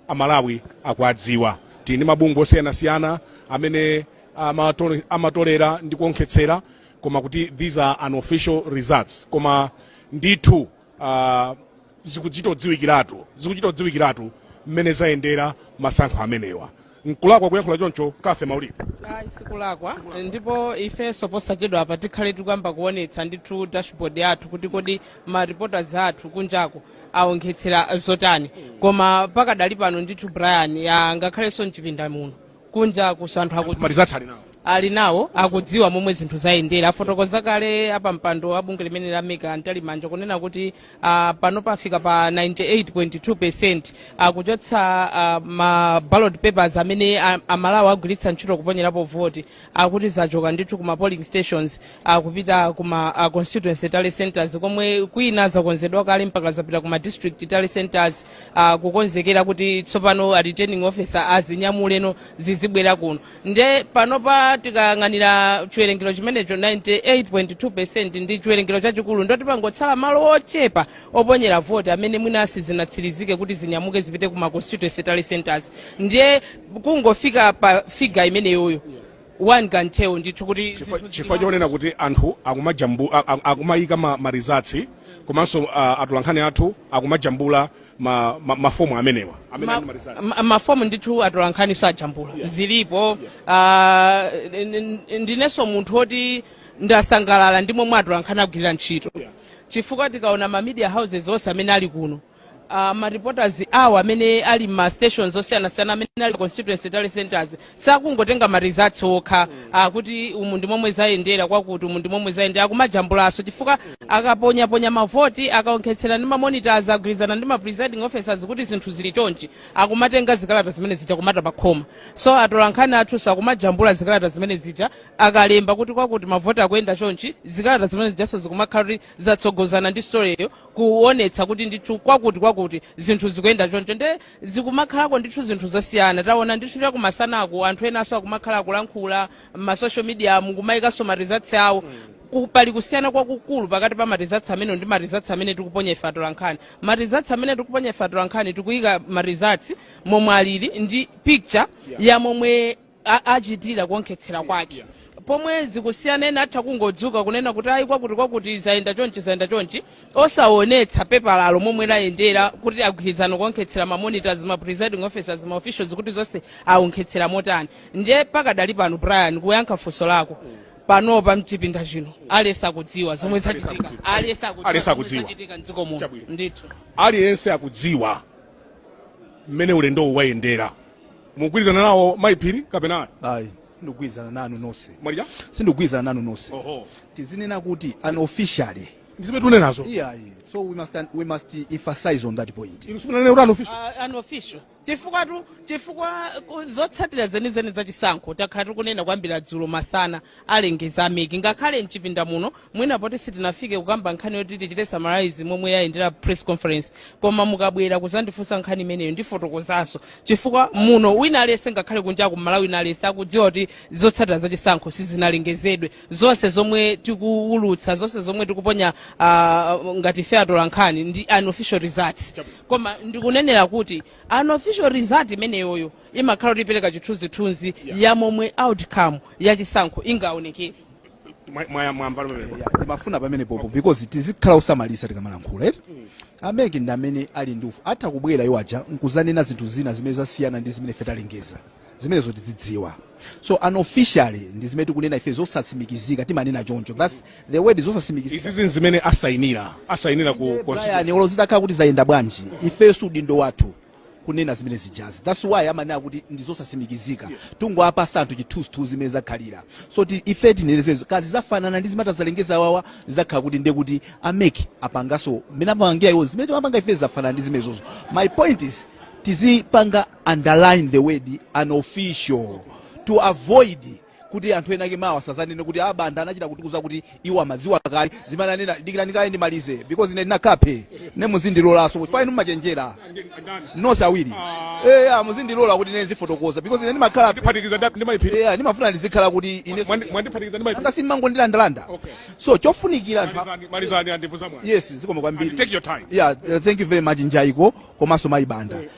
amalawi akuwadziwa tili ndi mabungwe osiyanasiyana amene amatolera ndi kuonkhetsera koma kuti these are unofficial results koma ndithu uh, zikuchita kudziwikiratu mmene zayendera masankho amenewa nkulakwa kuyankhula choncho kafe maulidi ayi sikulakwa ndipo ifenso posachedwa apa tikhale tikuyamba kuonetsa ndithu dashboard athu kuti kodi ma reporters athu kunjako aonkhetsera zotani koma pakadali pano ndithu brian angakhalenso mchipinda muno kunjakuso anthu akuti ma results ali nawo ali nawo akudziwa momwe zinthu zayendera afotokoza kale apampando a bungwe limene la mec a mtalimanja kunena kuti uh, panopa afika pa 98.2 percent uh, kuchotsa uh, ma ballot papers amene a- amalawi agwiritsa ntchito kuponyerapo voti akuti zachoka ndithu kuma polling stations uh, kupita kuma uh, constituency tally centers komwe kwina zakonzedwa kale mpaka zapita kuma district tally centers uh, kukonzekera kuti tsopano a returning officer azinyamule no zizibwera kuno nde panopa tikayang'ana chiwerengero chimenecho 98.2 percent ndi chiwerengero chachikulu ndiye kuti pangotsala malo ochepa oponyera voti amene mwina sizinatsirizike kuti zinyamuke zipite ku ma constituency tally centers ndiye kungofika pa figure imeneyoyo one can tell ndithu kuti Chifukwa- zinthu chifukwa zili- chonena kuti anthu akumajambu a- a- akumayika ma, ma results komanso uh, atolankhani athu akumajambula ma, ma, mafomu amenewa amene Ma- ali ma results ma- mafomu ndithu atolankhani ajambula zilipo Ah, n- n- ndinenso munthu woti ndasangalala ndi momwe atolankhani agwirira ntchito Yeah. chifukwa tikaona ma media houses onse amene ali kuno Uh, ma reporters awo amene ali m'ma stations osiyanasiyana amene ali constituency tally centers sakungotenga ma results okha kuti umu ndi momwe zayendera kwakuti umu ndi momwe zayendera akumajambulaso chifukwa akaponyaponya mavoti akaonkhetsera ndi mamonitors agwirizana ndi ma presiding officers kuti zinthu zili chonchi akumatenga zikalata zimene zija kumata pakhoma so atolankhani athuso akumajambula zikalata zimene zija akalemba kuti kwakuti mavoti akuyenda chonchi zikalata zimene zijaso zikumakhala kuti zatsogozana ndi storyyo kuonetsa kuti ndithu kwakuti kwakuti zinthu zikuyenda choncho nde zikumakhalako ndithu zinthu zosiyana taona ndithu chakumasanaku anthu enanso akumakhala akulankhula m'ma social mediamu kumayikanso ma results awo Ku- pali kusiyana kwakukulu pakati pa ma results amene ndi ma results amene tikuponya ife atolankhani ma results amene tikuponya ife atolankhani tikuyika ma results momwe alili ndi picture ya momwe a- achitira kuonkhetsera kwake pomwe zikusiyana ena atha kungodzuka kunena kuti ayi kwakuti kwakuti zayenda chonchi zayenda chonchi osaonetsa pepalalo momwe layendera kuti agwirizana kuonkhetsera mamonitors ma presiding officers ma officials kuti zonse aonkhetsera motani ndiye pakadali pano brian kuyankha funso lako panopa mchipinda chino aliyense akudziwa zomwe zachitika aliyense Aliyense akudziwa zomwe akudziwa. zachitika mdziko muno Chabwino. ndithu aliyense akudziwa mmene ulendowu wayendera mukugwirizana nawo mayi phiri kapena ayi ayi sindikugwirizana nanu nonse mwalija sindikugwirizana nanu nonse oho tizinena kuti unofficially ndi zimene tikunenazo iyayi so we must, we must emphasize on that point inu simunanene kuti unofficial uh, unofficial chifukwatu chifukwa ku- zotsatira zenizeni za chisankho takhala tikunena kuyambira dzulo masana alengeza a mec ngakhale mchipinda muno mwina poti sitinafike kukamba nkhani yoti tichite summarize momwe yayendera press conference koma mukabwera kuzandifunsa nkhani imeneyo ndifotokozanso chifukwa muno wina aliyense ngakhale kunja ku malawi wina aliyense akudziwa kuti zotsatira za chisankho sizinalengezedwe zonse zomwe tikuwulutsa zonse zomwe tikuponya ah, ngati ife atolankhani ndi unofficial results koma ndikunenela kuti unofficial result imeneyoyo imakhala kuti ipereka chithunzithunzi ya momwe outcome ya chisankho ingaonekere Mwa- mwa- mwamba lomwe. timafuna pamenepopo because tizikhala osamalitsa tikamalankhula eti a MEC ndi amene ali ndi ufulu atha kubwera iwo aja nkuzanena zinthu zina zimene zasiyana ndi zimene ife talengeza zimenezo tizidziwa so unofficially ndi zimene tikunena ife zosatsimikizika timanena choncho thats the word zosatsimikizika izizi nzimene asayinira asayinira ku brian olo zitakhala kuti zayenda bwanji ifeso udindo wathu kunena zimene zijazi that's why amanena kuti ndi zosasimikizika yeah. tungowapatsa anthu chithunzithunzi mmene zakhalira so ti ife tinenezezo kazi zafanana ndi zimene atazalengeze awawa zakhala kuti ndiye kuti a MEC apangaso mmene amapangira iwo zimene timapanga ife zafanana ndi zimenezozo my point is tizipanga underline the word unofficial to avoid kuti anthu ena ake mawa asazanene kuti a banda anachita kutiuza kuti iwo amaziwa kale zimene anena dikirani kaye ndimalize because ine ndinakape ne muzindilolanso chifukwa inu mumachenjera nonse awiri eya muzindilola kuti ine ndizifotokoza because ine ndimakhala ndiphatikiza ndi- ndi mayi phiri eya ndimafuna ndizikhala kuti ine Mwandi- mwandiphatikiza ndi mayi phiri anga simmangondilandalanda Okay. so chofunikira anthu a- malizani malizani andivuta mwana yes zikomo kwambiri And take your time. yeah uh, thank you very much njaiko komanso mayi banda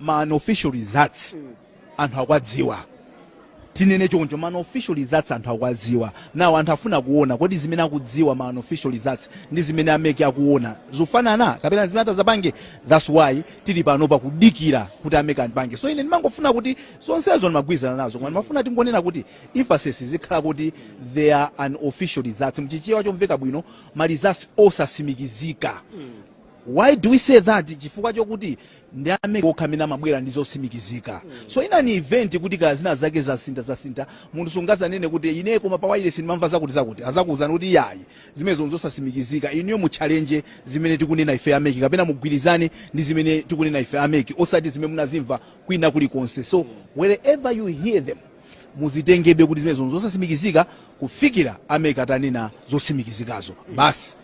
ma unofficial results anthu akuwadziwa tinene choncho ma unofficial results anthu akuwadziwa now anthu afuna kuona kodi zimene akudziwa ma unofficial results ndi zimene a MEC akuona zufanana kapena zimene atazapange that's why tili pano pakudikira kuti a MEC apange so ine ndimangofuna kuti zonsezo ndimagwirizana nazo koma ndimafuna tingonena kuti emphasis zikhala kuti they are unofficial results mchichewa chomveka bwino ma results osasimikizika Why do we say that? Chifukwa chokuti ndi amene okha amene amabwera ndi zotsimikizika. So in an event kuti kaya zina zake zasinta zasinta munthu sangazanene kuti ine koma pa wireless ndimamva zakuti zakuti azakuuzani kuti yayi zimenezo nzosasimikizika inuyo muchallenge zimene tikunena ife a MEC kapena mugwirizane ndi zimene tikunena ife a MEC osati zimene munazimva kwina kuli konse. So wherever you hear them muzitengabe kuti zimenezo nzosasimikizika kufikira a MEC atanena zosimikizikazo basi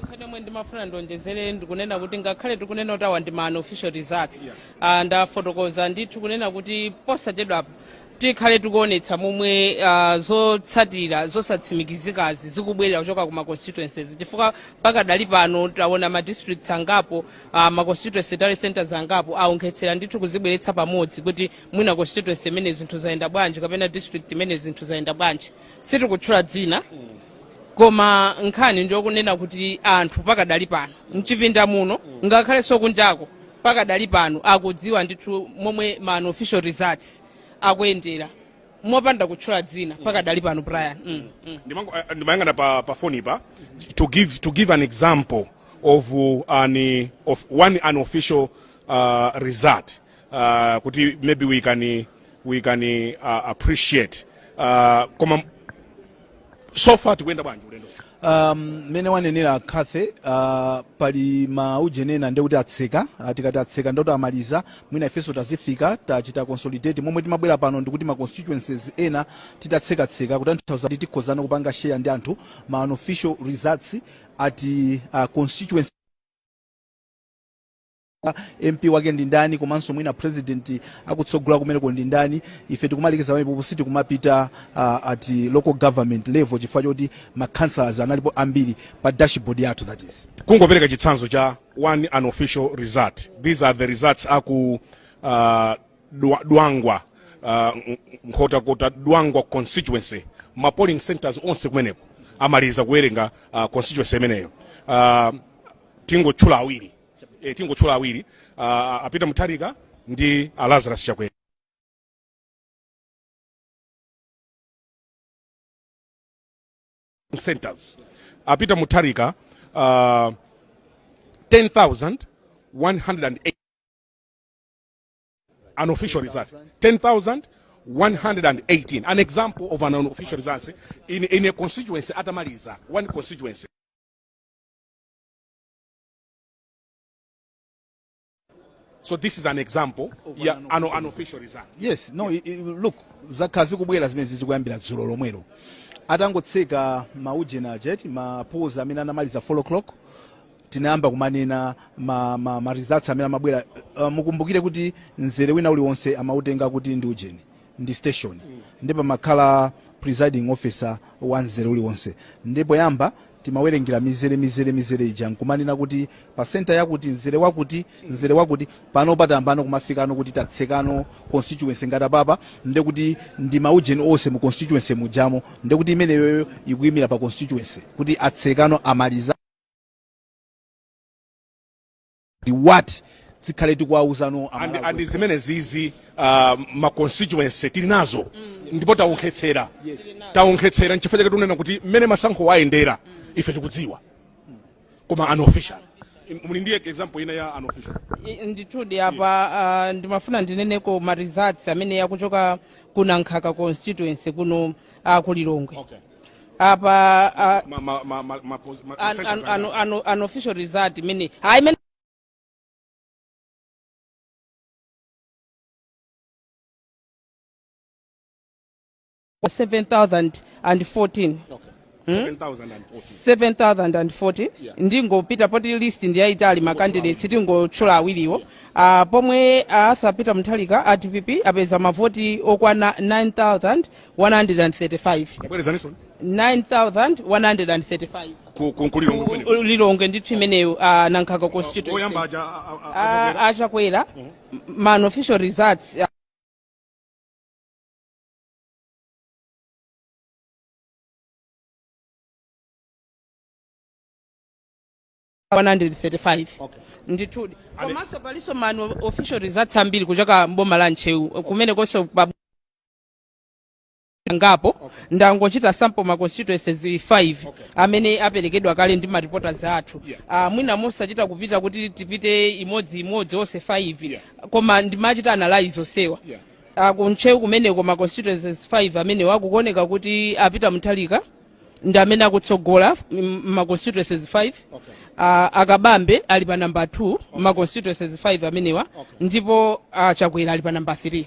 nkhani yomwe ndimafuna ndionjezere ndikunena kuti ngakhale tikunena kuti awa ndi ma unofficial results Ah, ndafotokoza ndithu kunena kuti posachedwapo tikhale tikuonetsa momwe ah, zotsatira zosatsimikizikazi zikubwerera kuchoka ku ma constituencies chifukwa pakadali pano taona ma districts angapo ah, ma constituency tally centers angapo aonkhetsera ndithu kuzibweretsa pamodzi kuti mwina constituency imeneyi zinthu zayenda bwanji kapena district imeneyi zinthu zayenda bwanji sitikutchula dzina koma nkhani ndiyokunena kuti anthu pakadali pano mchipinda muno ngakhalenso kunjako pakadali pano akudziwa ndithu momwe ma unofficial results akuyendera mopanda kutchula dzina pakadali pano brian mm, mm. Ndimango- eh, ndimayang'ana pa, pa foni pa to give, to give an example of, uh, an, of one unofficial uh, result uh, kuti maybe we can, we can uh, appreciate uh, koma so far tikuyenda bwanji ulendo um, mmene wanenera Cathy uh, pali maujenena ndi kuti atseka uh, tikati atseka ndoti amaliza mwina ifenso tazifikira tachita consolidate momwe timabwera pano ndikuti ma constituencies ena tatsekatseka kutanthauza kuti tikhozano kupanga share ndi anthu ma unofficial results at uh, constituency mp wake ndi ndani komanso mwina president akutsogola kumeneko ndi ndani ife tikumalekeza pamenepo sitikumapita uh, at local government level chifukwa chokuti ma councillors analipo ambiri pa dashboard yathu that is kungopereka chitsanzo cha one unofficial result these are the results aku uh, Dwa- dwangwa uh, N- nkhotakota dwangwa constituency ma polling centers onse kumeneko amaliza kuwerenga uh, constituency imeneyo uh, tingotchula awiri e, tingotchula awiri uh, apita mutharika ndi a lazarus chakwera centers apita mutharika uh, 10108 an official result 10118 an example of an unofficial result in, in a constituency atamaliza one constituency so this is an example ya an, unofficial result yes no i- i- look zakhala zikubwera zimenezizi kuyambira dzulo lomwelo atangotseka maujeni aja eti ma polls amene anamaliza 4 o'clock tinayamba kumanena ma, ma, ma results amene amabwera uh, mukumbukire kuti mzere wina uliwonse amautenga kuti ndi ujeni ndi station ndipo pamakhala presiding officer wa mzere uliwonse ndipo poyamba timawerengera mizere mizere mizere ija nkumanena kuti pa senta yakuti mzere wakuti mzere wakuti pano patambano kumafikano kuti tatsekano constituency ngati apapa ndekuti ndi maujeni onse mu constituency mujamo ndekuti imeneyoyo ikuyimira pa constituency kuti atsekano amaliza ndi what tikhale tikuwawuzano and, and zimene zizi uh, ma constituency tili nazo ndipo taonkhetsera taonkhetsera nchifukwa chake tikunena kuti mmene masankho ayendera ife tikudziwa koma unofficial muli ndiye example ina ya unofficial I- ndithudi apa ah, ndimafuna ndineneko ma results amene akuchoka ku nankhaka constituency kuno ah, ku lilongwe Okay. apa ah, ma, ma, ma, ma, ma, pos- ma, an, an, an, an, unofficial result imene hayi imene seven thousand and fourteen okay. 7,040. 7040 Yeah. ndingopita poti list ndiyayitali makandidates tingotchula awiriwo uh, pomwe uh, arthur peter mutharika a dpp apeza mavoti okwana 9000 135 bwerezaninso 9135 ku- ku- kuliro Ku- kumeneko. u- lilongwe ndithu imeneyo ah, nankhaka oyamba constituency aja a- a- a- Ah, akwera. a chakwera ma unofficial results ah, one hundred thirty-five Okay. ndithudi Ane- komanso palinso ma unofficial results ambiri kuchoka mboma la ntcheu kumene konse pa angapo ndangochita sample ma constituencies 5 amene aperekedwa kale ndi ma reporters athu Ah, mwina mosachita kupita kuti tipite imodzi imodzi onse 5 koma ndimachita analyze onsewa Ah, kuntcheu kumeneko ma constituencies 5 amenewo kukuoneka kuti a peter mutharika ndi amene akutsogola m- ma constituencies 5 Ah, a kabambe ali pa namba 2 ma constituencies 5 amenewa ndipo ah, chakwera ali pa namba 3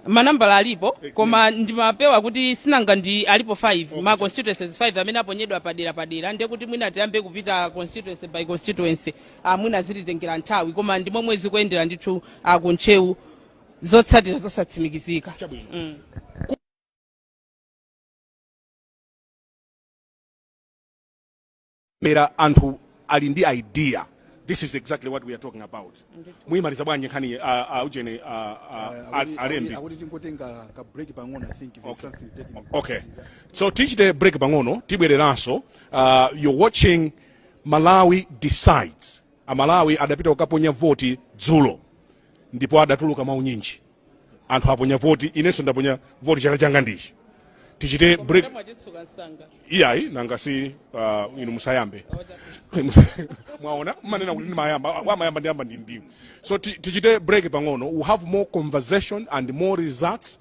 manambala alipo koma ndimapewa kuti sinanga alipo 5 ma constituencies 5 amene aponyedwa padera padera ndiye kuti mwina tiyambe kupita constituency by constituency ah, mwina zititengera nthawi koma ndi momwe zikuyendera ndithu ah, ku ntcheu zotsatira zosatsimikizika mm. koma anthu ali ndi idea this is exactly what we are talking about muyimaliza bwanji nkhani ah, ah, ujeni ah, ah, ah, alembi akuti tingotenga ka break pang'ono i think there's Okay. something technical okay so tichite break pang'ono tibwereranso uh, you're watching malawi decides amalawi adapita kukaponya voti dzulo ndipo adatuluka mwaunyinji anthu aponya voti inenso ndaponya voti chala changa ndichi tichite break iyayi nanga si uh, inu musayambe mwaona mmanena kuti ndimayamba amayamba ndi a mbandi ndiwo so ti- tichite break pang'ono we have more conversation and more results